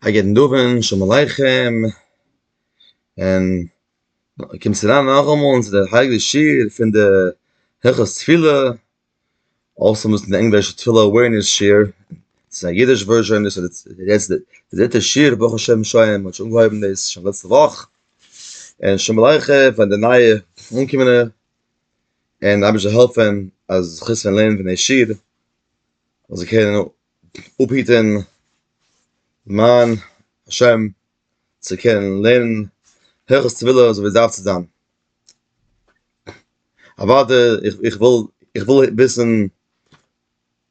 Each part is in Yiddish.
א גוטן אווענט, שלום עליכם, און קומסט אריין נאכאמאל צו די הייליגע שיעור פון די הלכות תפילה, אויסער מ'איז אין די ענגלישע תפילה עווערנעס שיעור, ס'איז א אידיש ווערזשאן דאס איז יעצט די דריטע שיעור ברוך השם שוין, מ'האט שוין אנגעהויבן דאס שוין לעצטע וואך, און שלום עליכם פאר די נייע אנגעקומענע, און אייבערשטער זאל העלפן אז זיך אויסוועלן לערנען פון די שיעור, זאל זיי קענען אפהיטען מיין השם צו קענען לערנען הלכות טבילה אזוי ווי עס דארף צו זיין, אוואדע איך וויל איך וויל וויסען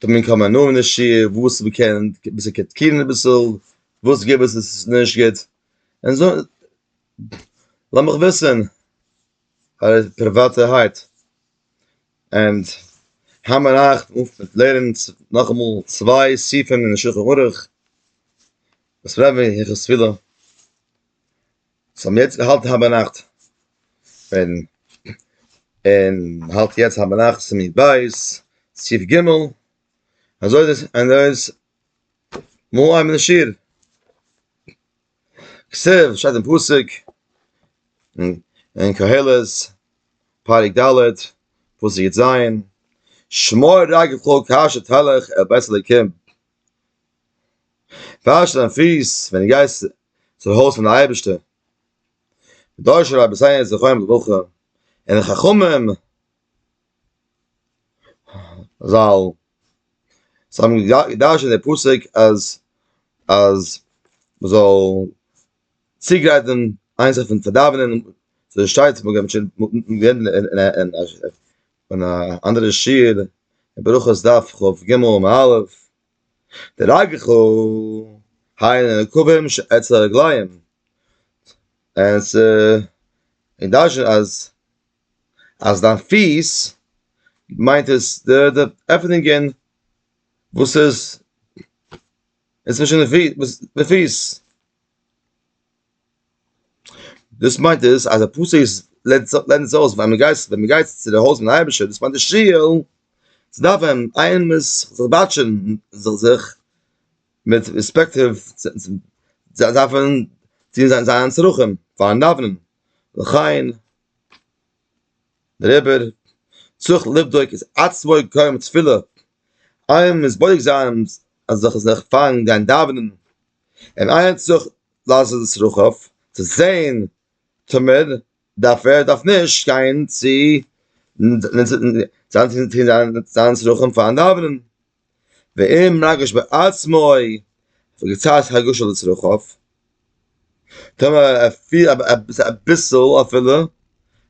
דעם קאמען נאמען אין די שיעור וואס מען קען אביסעל קריטיקירען אביסעל וואס איז גוט וואס איז נישט גוט, און זא לאמיך וויסען. פאר פריוואטערהייט ענד האמער אייך אויף לערנען נאכאמאל צוויי סעיפים אין שולחן ערוך וואס רבי היכס פילה האט אים יעצט געהאלטן היינט ביינאכט און און האלט יעצט היינט ביינאכט סימן ב' סעיף ג' אזוי איז עס און דא איז מו א מנשיער. כסף שטייט אין פסוק אין קהלת פרק ד' פסוק יט זיין שמור רגלך כאשר תלך אל בית אלוקים וואש דיין פיס ווען דו גייסט צום הויז פון די אייבערשטער דורש רבי זיי זיך אויב וואך און חכמים זאל זיי האבן געדארשענט די פסוק אז אז מ'זאל צוגרייטן איינס אויפן צו דאווענען ס'איז שטייט מ'האט געהאט שוין גערעדט אין א אנדערע שיעור אין ברכות דף כ ג עמוד א' די רגע חו היינו נקובים שעצה רגליים און ס'איז געדארשענט אז אז דיין פיס מיינט עס די די עפענונגען וואס איז אינצווישן די פיס, דאס מיינט עס אז די פסוק לערנט עס אויס ווען מען גייט ווען מען גייט צו די הויז פון אייבערשטער דאס מיינט די שול, צו דאווענען איין מען מוז זיך באטשען זיך זיך מיט ריספעקט דארף מען טון זיינע צרכים פארן דאווענען וכן דעריבער צריך לבדוק את עצמו קודם תפילה, איינמאל מ'איז בודק זיין זיך זיך פארן גיין דאווענען, און איינער צריך לעשות את צרכיו, צו זען טאמער ער דארף אדער דארף נישט גיין צו זיין צרכים פארן דאווענען. ואם רגש בעצמו וקצת הרגשה לצרכיו, טאמער ער פיהלט אביסל אפילו אז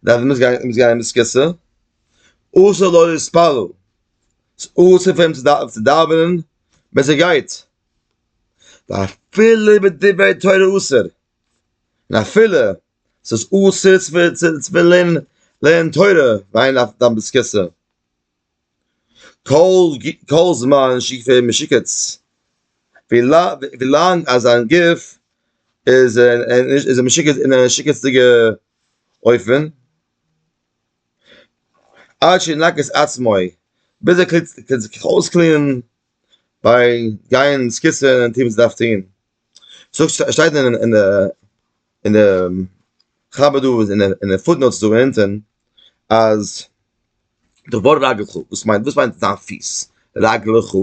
ער מוז גיין מיט סקיסע, אסור לו להתפלל, ס'איז אסור פאר אים צו דאווענען בעת ער גייט, ואפילו בדברי תורה אסור, און אפילו ס'איז אסור צו לערנען תורה ווען איינער דאווענט מיט סקיסע. כל זמן שיגפי משיקץ ווילאנג אז זיין גוף איז איז משוקץ אין א משוקצדיגע אופן, עד שינק את עצמו ביז ער קען זיך אויסקלינען ביי גיין אין סקוטער און טון וואס ער דארף טון, שטייט אין די אין די חב ד אין די פוט נאוטס דא אונטען אז דבר רגלך וואס מיינט וואס מיינט דיין פיס רגלך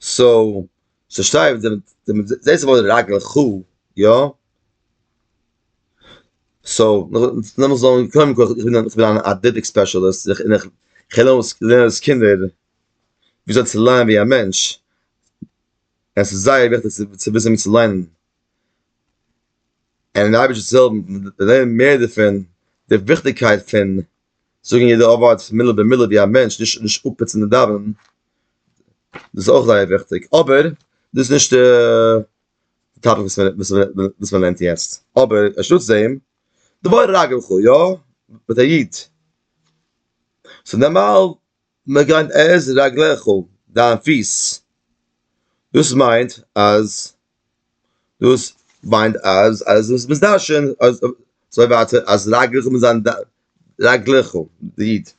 סאו ס'שטייט זעהסט די ווארט רגלך יא סאו לאמיך זאגן קודם כל איך בין א אדלעטיק ספעשעליסט און איך לערן אויס קינדער וויאזוי צו לייען ווי א מענטש. עס איז זייער וויכטיג צו וויסן ווי צו ליינען, און די אייבערשטער זאל העלפן מיר צו לערנען מער דערפון, די וויכטיגקייט פון זאגן יעדע ווארט מילה במילה ווי א מענטש, נישט אפפוצן און דאווענען, דאס איז אויך זייער וויכטיג, אבער דאס איז נישט די טאפיק וואס מען לערנט יעצט, אבער אנשטאטס דעם, דבר רגל חו, יא, מיט א יוד, ס'איז נארמאל. מגן את רגליך, דיין פיס, דאס מיינט אז דאס מיינט אז אז דאס ביסט דרשן אז זיי ווארטן אז רגליך מוז זיין רגליך די איד,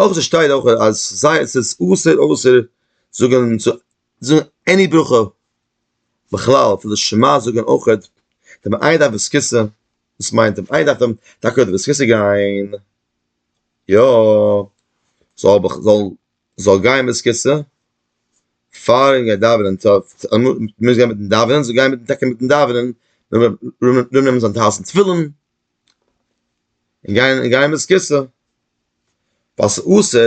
אויך דאס שטייט אויך אז זיי עס איז אסור אסור זאגן זאגן עני ברכה בכלל פון די שמע זאגן אויכעט, דער מעיין דארף דאס כיסא, דאס מיינט דער מעיין דארף טאקע דאס כיסא גיין. יא, זאל גיין מיט סקיצע, פאר ער גייט דאווענען, מוז גיין מיטן דאווענען, זאל גיין טאקע מיטן דאווענען, נאר נעמען זיין טייערסטן תפילין, און גיין מיט סקיצע, ווייל ס'איז אסור,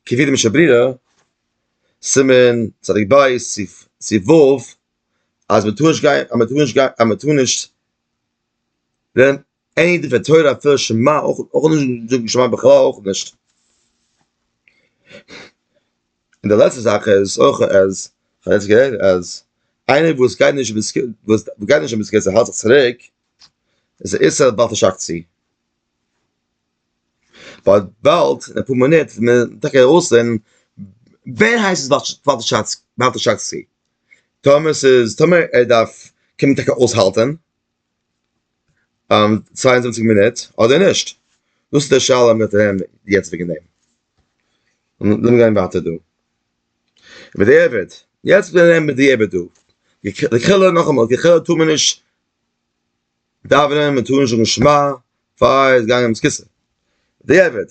כפי דעם שברירה, סימן צדיק ב' סי' ו', אז מ'טאר נישט גיין, אז מ'טאר נישט גיין, אז מ'טאר נישט. אין דברי תורה אפילו שמע אויך אויך נישט זאגן שמע בכלל אויך נישט. און די לעצטע זאך איז אויך אז כ'האב יעצט גערעדט אז איינער וואס גייט נישט אין סקו וואס גייט נישט אין ביזקעט ער האלט זיך צוריק איז א איסור בל תשחק צו. ווייל באלד אין אפאר מינוט וועט מען טאקע ארויסזען ווער הייסט עס בל תשחק בל תשחק צו. טאמער ס'איז טאמער ער דארף קען מען טאקע אויסהאלטען צוויי און זיבעציק מינוט אדער נישט? דאס איז די שאלה וואס מען וועט רעדן יעצט וועגן דעם. לאמיר גיין ווייטער דא. בדיעבד, יעצט וועל איך רעדן בדיעבד דא. לכאורה נאכאמאל, לכאורה טאר מען נישט דאווענען, מען טאר נישט זאגן שמע פאר עס איז געגאנגען קיסר. בדיעבד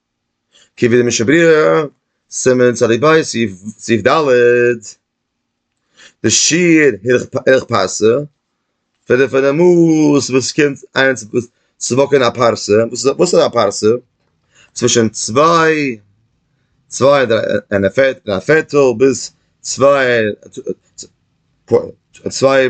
כ ו די משנה ברורה, סימן צדיק ב', סעיף ד', די שיעור ערך פרסה, פון די פון די מאס וואס קומט איינס צו באקען א פרסה, וואס איז א פרסה? צווישן צוויי, צוויי און א פערטל ביז צוויי, צוויי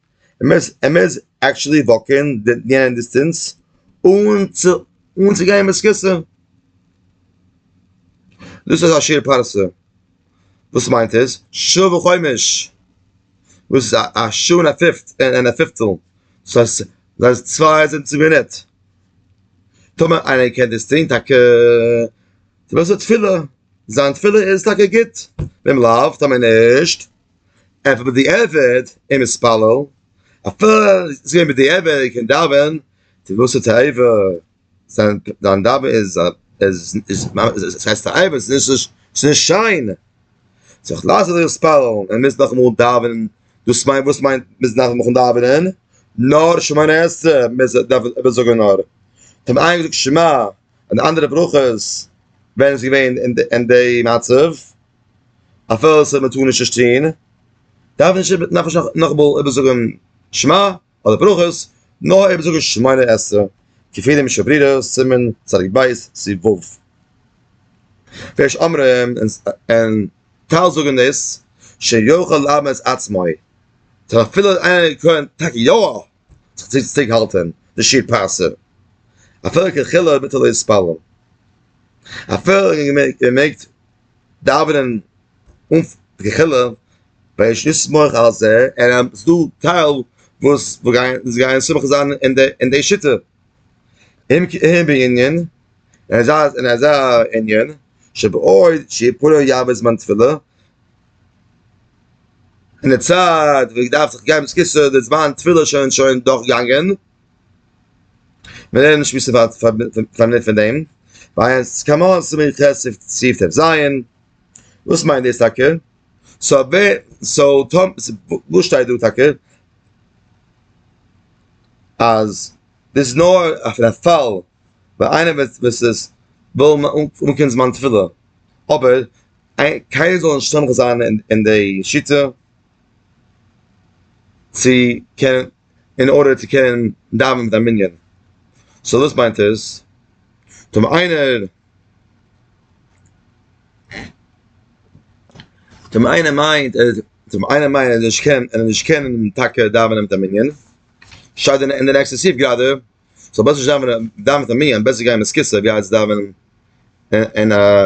מ'מוז מ'מוז עקטשעלי וואקען די יענע דיסטענס אן צו אן צו גיין מסכסא. דאס איז א שיעור פרסה. וואס מיינט עס? שעה וחומש. וואס איז א שעה און א פיפט און א פיפטל. דאס הייסט דאס הייסט צוויי זיבעציג מינוט. טאמער איינער קען דאס טון טאקע צו וואס איז תפילה? זיין תפילה איז טאקע גוט. ואם לאו טאמער נישט. און פון בדיעבד איז מתפלל, אפילו איז געווען בדיעבד ער קען דאווען, צו וואס האט תועבה, זיין דאווען איז עס הייסט תועבה, עס איז נישט שיין, סאו כ'לאז זיך התפללן, ער מוז נאכאמאל דאווענען, דאס מיינט וואס מיינט מוז נאכאמאל דאווענען? נאר שמונה עשרה מוז ער דארף ער זאגן נאר, האט מען איינגעזאגט שמע און אנדערע ברכות ווען ער איז געווען אין די מצב. אפילו ס'האט מיט האר נישט נישט צו טון, דארף נישט איבער נאך נישט נאכאמאל איבער זאגען שמע אדער ברכות, נאר איבער זאגען שמונה עשרה כפי דעם משנה ברורה, סימן צדיק ב' סי' ו'. ויש אומרים, און טייל זאגען דאס, שיכול לאמת עצמו, טאמער אפילו איינער קען טאקע יא זיך צו צוריק האלטען די שיר פרסה אפילו קיין חילו אויב ביטער איז פאלו אפילו איר מעגט דאווענען אן קיין חילו ווייל נישט לסמוך על זה ער איז דא טייל וואס גייען סומך זיין אין די שיטה אין אין בענין אין אזא ענין שבעוד שיפולו יעבוד זמן תפילה אין די צייט ווי געדארפט זיך געבן סקיסע די זמן תפילה שוין שוין דאך גאנגען מיר נישט מיסע פארט פארנען פון דעם ווייל עס קאמאן ס'איז מיר כסף ציפט עס זיין וואס מיינט דאס טאקע סא ווער סא טאמ וואס שטייט דא טאקע אז דאס איז נאר אויף די פאל ווען איינער וועט וואס איז וויל אנקומען זמן תפילה אבער קיינער זאל נישט סומך זיין אין די שיטה צו קענען אין ארדער צו קענען דאווענען מיט א מנין, סאו דאס מיינט עס טאר מען איינער טאר מען איינער מיינט טאר מען איינער מיינט אז ער נישט קען אז ער נישט קען טאקע דאווענען מיט א מנין שטייט אין די נעקסטע סעיף גראדע זאל בעסער נישט דאווענען דאווען מיט א מנין בעסער גיין אין א סקיסע ווי אלץ דאווענען אין א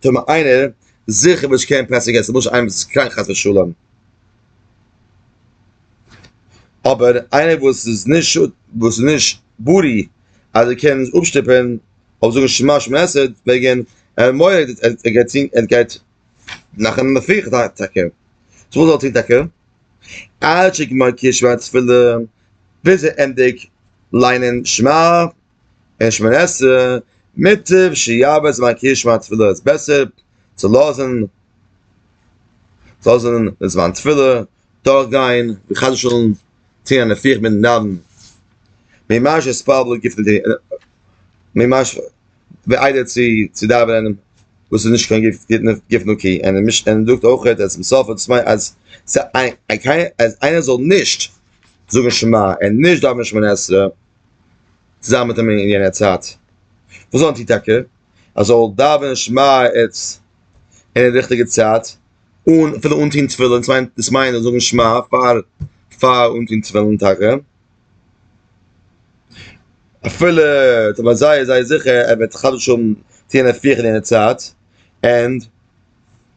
טאר מען איינער זיכער וואס נישט קען פסח עסן למשל איינער וואס איז קראנק חס ושלום, אבער איינער וואס איז נישט וואס איז נישט בריא אז ער קען אפשטופען אויב זאגן שמע שמע עשרה וועגן ער מורא'דיג ער גייט טון ער גייט מאכן מפיח די טאקע, סאו וואס זאל ער טון טאקע? עד שגמר קריאת שמע תפילה ביז ער ענדיג ליינען שמע אין שמונה עשרה מוטב שיעבוד זמן קריאת שמע תפילה איז בעסער צו לאזן צו לאזן די זמן תפילה דורך גיין ווי חס ושלום טוהן א נפיח מיט נדן ממש עס פארבלע גיפט די ממש ווי איידער צו צו דאווענען וואס איז נישט קיין גיפט גיט נאר גיפט נאר קי און מיש און זאגט אויך אז צום סוף האט עס מיין אז סיי אז איינער זאל נישט זאגן שמע און נישט דאווענען שמונה עשרה צוזאמען מיט אים אין יענער צייט, וואס וואלט איר טאקע? ער זאל דאווענען שמע עת אין די ריכטיגע צייט, אן אפילו אנטוהן תפילין, דאס מיינט דאס מיינט זאגן שמע פאר פאר אנטוהן תפילין טאקע, אפילו איך בין זייער זייער זיכער ער וועט חדש האבן צו יענע פיך אין יענע צייט, און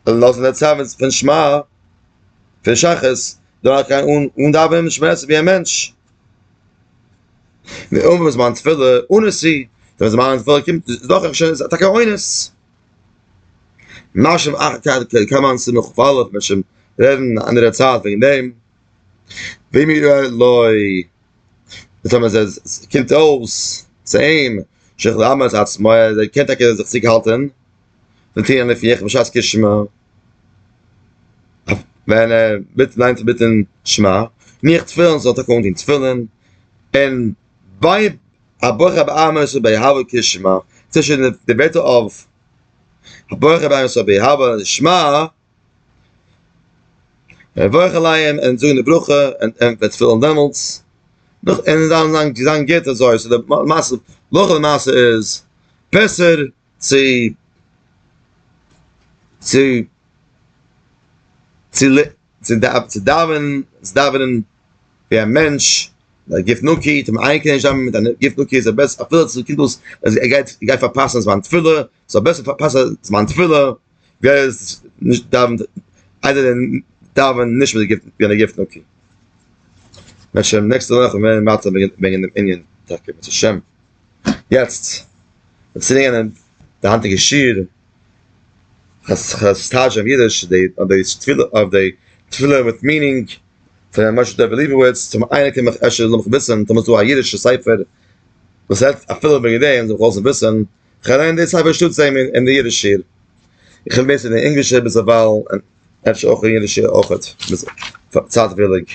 לאזן די צייט פון שמע פון שחרית דורכגיין אן אן דאווענען משמעת ווי א מענטש. די אומה וואס מיינט תפילה אן עס אי, ווען זיי מיינען תפילה קומט עס דאך אפשר איז אטאקע אן עס. משמ א קען מען עס נאך פאלעוו משמ רעדן א אנדערע צייט וועגן דעם. ווי מיר ווייל לוי די טעמע איז עס קומט אויס צו אים שכ ל אמר את עצמו ער קען טאקע זיך צוריק האלטען. די טירן עפן איך בשעת קריאת שמע, ווען ער בעט זיין צו בעטן שמע, און איך תפילין, זאל טאקע אנטון תפילין, און ביי א ברכה ביי עמוס און ביי אהבה קריאת שמע, צווישן די ווערטער אויף א ברכה ביי עמוס און ביי אהבה שמע, מברך עליהם און זאגן די ברכה און ענטפערן די תפילין דעמאלטס, און זיין גוט אזוי, סאו די מעשה, הלכה למעשה איז בעסער צו צו צו צו דאווענען ווי א מענטש א גוף נקי טאר מען איין קינד נישט דאווענען מיט א גוף נקי איז בעסער אפילו צו קומט אויס אז ער גייט ער גייט פארפאסן זמן תפילה זאל בעסער פארפאסן זמן תפילה ווי ער נישט דאווענט איידער דעם דאווענען נישט מיט א גוף נקי. בעז ה נעקסטע וואך וועלן מיר ווייטער וועגן דעם ענין בעז השם. יעצט, ווען ס'איז געווען די היינטיגע שיעור, כסטאזש אויף אידיש, די אויף די תפילה, אויף די תפילה מיט מינינג, פון ר' משה טויב ליבוביץ, צו ווען איינער קען מיך אפשר לאזן מיך וויסן, טאמער ס'איז דא א אידישע ספר, וואס רעדט אפילו וועגן דעם, זאל מיך לאזן וויסן, כ'לערן די ספר שטאטס דעם אין די אידיש שיעור, איך בין בעסער אין די ענגלישע ביזדערווייל, און אפשר אויך אין אידישע אויכעט, צייטוויליג.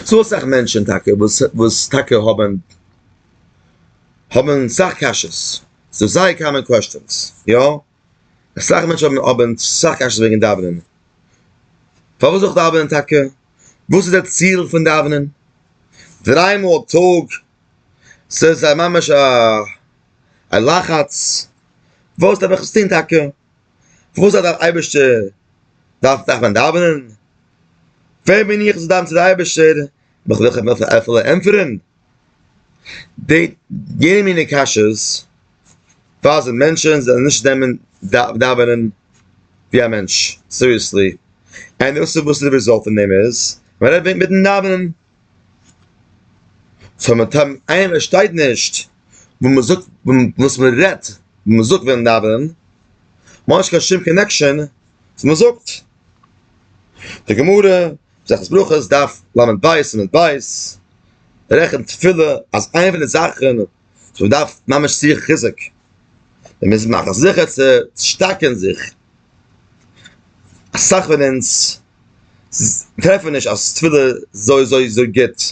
ס'דא אסאך מענטשען טאקע וואס וואס טאקע האבען האבען סאך קשיות, ס'איז זייער קאמען קוועסטשענס, יא, אסאך מענטשען האבען האבען סאך קשיות וועגען דאווענען, פארוואס זאל איך דאווענען טאקע? וואס איז דער ציל פון דאווענען? דריי מאל א טאג? ס'איז א ממש א לחץ, וואס דארף איך עס טוהן טאקע? פארוואס האט דער אייבערשטער דארף דארף מען דאווענען? ווער בין איך צו דאווענען צו דער אייבערשטער? נאך וועל איך אים אפילו ענטפערן? די יענע מיני קשיות ווייזן מענטשן זיי זאלן נישט נעמען דאווענען ווי א מענטש סיריעסלי, ענד דאס איז וואס איז די רעזאלט פון דעם איז, מען רעדט מיטן דאווענען. סאו מיט אים איינער שטייט נישט וואס מען זאגט וואס מען רעדט וואס מען זאגט ווען דאווענען מ'האט נישט קיין שום קאנעקשאן וואס מען זאגט די גמרא מסכת ברכות דף לב ב סימן ב רעכנט תפילה אז איינע פון די זאכן סאו מען דארף ממש זיך חיזוק, מען מוז מאכן זיכער צו שטארקען זיך, אסאך פון אונז טרעפן נישט אז תפילה איז אזוי אזוי גוט,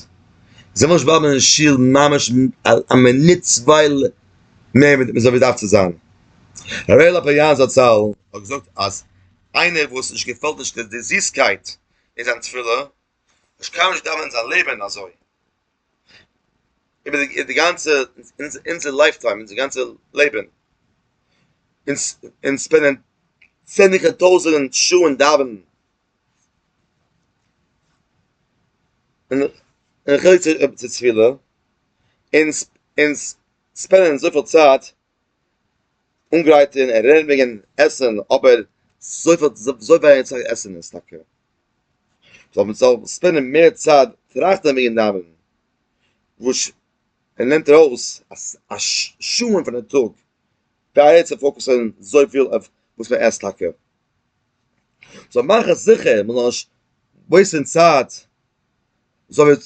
זיי ווילן נישט בלייבן אין שול ממש א מינוט צוויי מער ווי מען דארף צו זיין, ר' לאפאיא זצל האט געזאגט אז איינער וואס נישט געפעלט נישט די זיסקייט אין זיין תפילה, נישט קיים נישט דאווענען זיין לעבן אזוי. איבער די די גאנצע אונזער לייף טיים אונזער גאנצע לעבן אונז אונז שפענדען צענדליגער טויזענט שעה אין דאווענען און און חלק צו תפילה אונז אונז שפענדען אזויפיל צייט אנגרייטען און רעדן וועגען עסען אבער זוי ווייניג צייט עסען עס טאקע זאל מען זאל ספענדען מער צייט טראכטען וועגען דאווענען וואס ער נעמט ארויס א שעה'ן פון די טאג זייער צו פאוקעסען זוי פיל אויף וואס מען עסט טאקע זאל מאכען זיכער מען זאל נישט וועיסטען צייט. זאָל מיר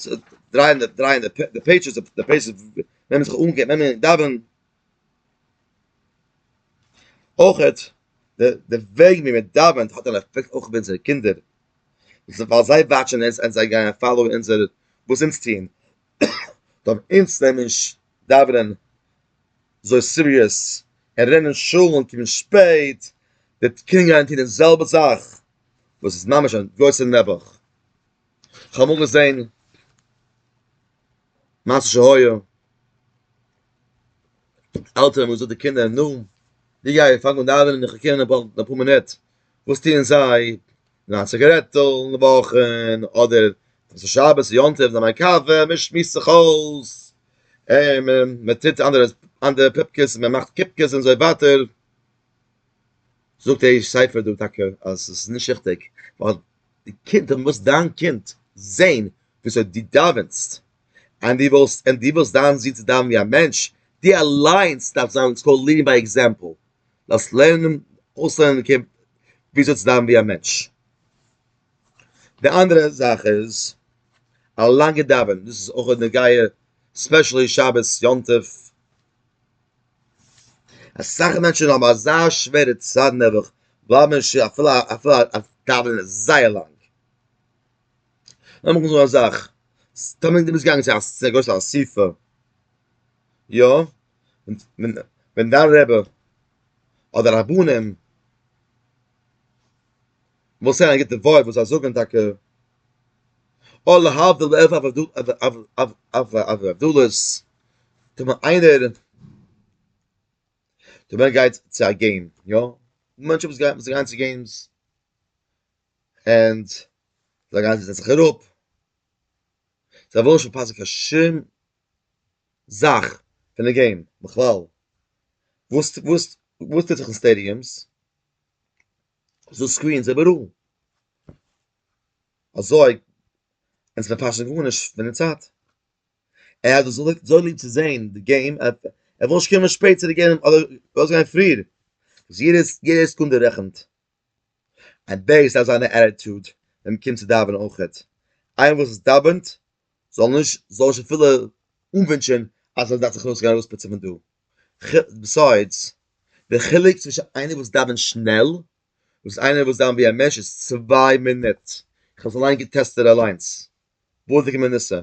דרייען די דרייען די פּעידזשעס, די פּעידזשעס ווען מען זיך אָנגעבן ווען מען דאַווען. אויך די די וועג ווי מען דאַווענט האָט אַן עפעקט אויך אויף אונזערע קינדער, ווייל זיי וואַטשען אונז און זיי גייען פאַלאָוּ אונזער וואָס אונז טוען, דאַרף אונז נעמען נישט דאַווענען אַזוי סיריעס און רעדן אין שול און קומען שפּעט, די קינדער גייען טון די זעלבע זאַך וואָס איז ממש אַ גרויסע נעבעך, כ'האב אמאל געזען מעשה שהיה, עלטערן האבן געזאגט די קינדער, נו, ווי גיי איר פאנג אן דאווענען און כ'קום נאך אין אפאר מינוט, וואס טוען זיי? נאר א ציגערעטל אין די וואכן, אדער ווען ס'איז שבת יום טוב נעמען א קאווע, מען שמועסט זיך אויס, מען טוט אנדערע פופקעס, מען מאכט קופקעס און אזוי ווייטער, זאגט דער איש ספר דא טאקע אז עס איז נישט ריכטיג, ווייל די קינד מוז דיין קינד זען וויאזוי דו דאווענסט, און דו ווילסט און דו ווילסט דיין זון צו דאווענען ווי א מענטש, דו אליינס דארפסט זיין ס'איז קאלד לידינג ביי עקזעמפל, דארפסט לערנען אויסלערנען די קינד וויאזוי צו דאווענען ווי א מענטש. די אנדערע זאך איז א לאנגע דאווענען, דאס איז אויך נוגע ספעשעלי שבת יום טוב, אסאך מענטשן האבן אזא שווערע צד נעבעך, בלייבן אין שול אפילו אפילו אז דאווענען איז זייער לאנג. לאמיך זאגן א זאך, סתם דו ביסט געגאנגען צו א צו א גרויסע אסיפה, יא, ווען ווען דיין רבי אדער רבנים, וואס זענען גוטע וואויל וואס זיי זאגען טאקע או להבדיל אויף אויף דו אויף אויף אויף אויף אויף דולערס טאר מען איינער טאר מען גייט צו א געים יא מענטש וואס גייט וואס גייען צו געימס ענד זיי גייען זיי זעצן זיך אראפ זיי ווילן נישט פארפאסן קיין שום זאך פון די געים בכלל וואס וואס וואס טוט זיך אין סטעדיומס זאל סקרין זיי בארואגן. אזוי אונז פארפאסן גארנישט פון די צייט. ער האט דאס אזוי ליב צו זען די געים אז ער וויל נישט קומען שפעט צו די געים אדער ארויסגיין פריער. יעדע סעקונדע רעכנט. און דאס איז זיין עטיטוד ווען מ'קומט צו דאווענען אויכעט. איינער וואס דאווענט זאל נישט זאל נישט אפילו אנווינטשען אז ער דארף זיך ארויס גיין ארויספוצען פון דא, ביסיידס די חילוק צווישען איינער וואס דאווענט שנעל ווס איינער וואס דאווענט ווי א מענטש איז צוויי מינוט, איך האב עס אליין געטעסטעד אליינס, וואלדיגע מנוסה,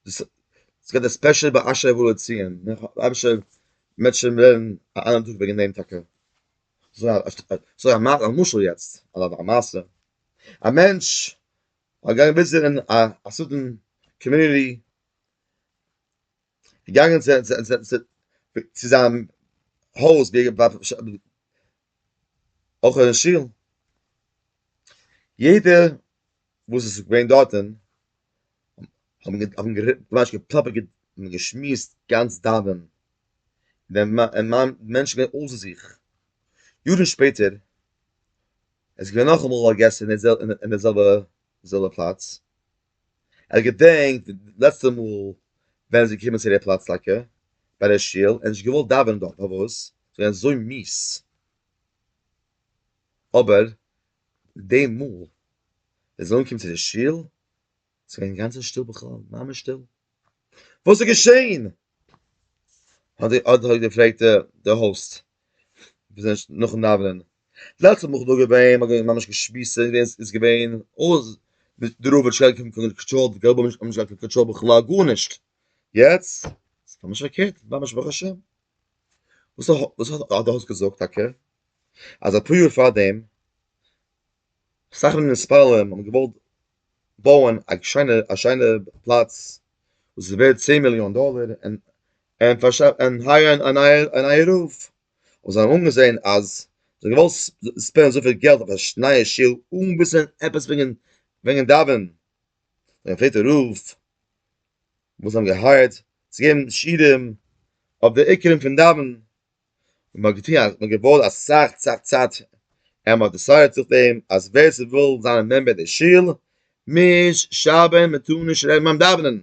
עס געט א ספעשעל באשערעוולע ציון, אייבישטער מעט שוין ווערן א אנדערע טאג וועגען דעם טאקע. אזוי א מאך א משל יעצט אדער א מעשה, א מענטש האט געהאט וויזיטערן א סאטמאר קאמיוניטי, געגאנגען צו זיין הויז אויך אין שול, יעדער וואס איז געווען דארטען האבן ממש געפלאפערט און געשמועסט גאנץ דאווענען, דער מאן, די מענטשן זענען געווען אויסער זיך, יארן שפעטער איז געווען נאכאמאל א געסט אין די זעלבע פלאץ, ער האט געדענקט די לעצטע מאל ווען ער איז געקומען צו די פלאץ טאקע ביי די שול, ער האט נישט געוואלט דאווענען דארט, פארוואס? ס'איז געווען אזוי מיאוס, אבער די מאל די זוהן קומט צו די שול איז געווען אינגאנצן שטיל בכלל, ממש שטיל, וואס איז געשעהן? האט די האט די געפרעגט די האוסט נאכן דאווענען, דלית מאכל דא געווען, מען האט ממש געשמועסט, ס'איז געווען אויס די רב האט נישט געהאט קיין קאנטראל, די געבעלע האבן נישט געהאט קיין קאנטראל בכלל גארנישט, יעצט איז ממש פארקערט, ממש ברוך השם, וואס האט די האוסט געזאגט טאקע? אז אפאר יאר פארדעם אסאך פון די מוניציפאלער האבן געוואלט בויען א שיינע א שיינע פלאץ וואס איז ווערד צען מיליאן דאלער און און פארשאפט און הייערן א נייער א נייער רב, און זיי האבן אנגעזען אז זיי האבן געוואלט ספענדן אזויפיל געלט אויף א נייע שול אן וויסן עפעס וועגן וועגן דאווענען, זיי האבן געפרעגט די רב וואס זיי האבן געהייערט צו געבן שיעורים אויף די עיקרים פון דאווענען. און מען האט געטון אז מען האט געבויט אסאך אסאך צייט און מען האט דעסיידעט זיך דעם אז ווער ס'וויל זיין א מעמבער אין די שול מוז שרייבען מען טאר נישט רעדן ביים דאווענען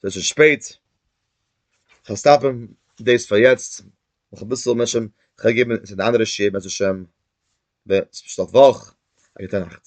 ס'איז שוין שפעט כ'וועל סטאפען דאס פאר יעצט נאך אביסעל מען שוין כ'וועל געבען צו די אנדערע שיעור בעזהשם ב סוף וואך און גוטע נאכט.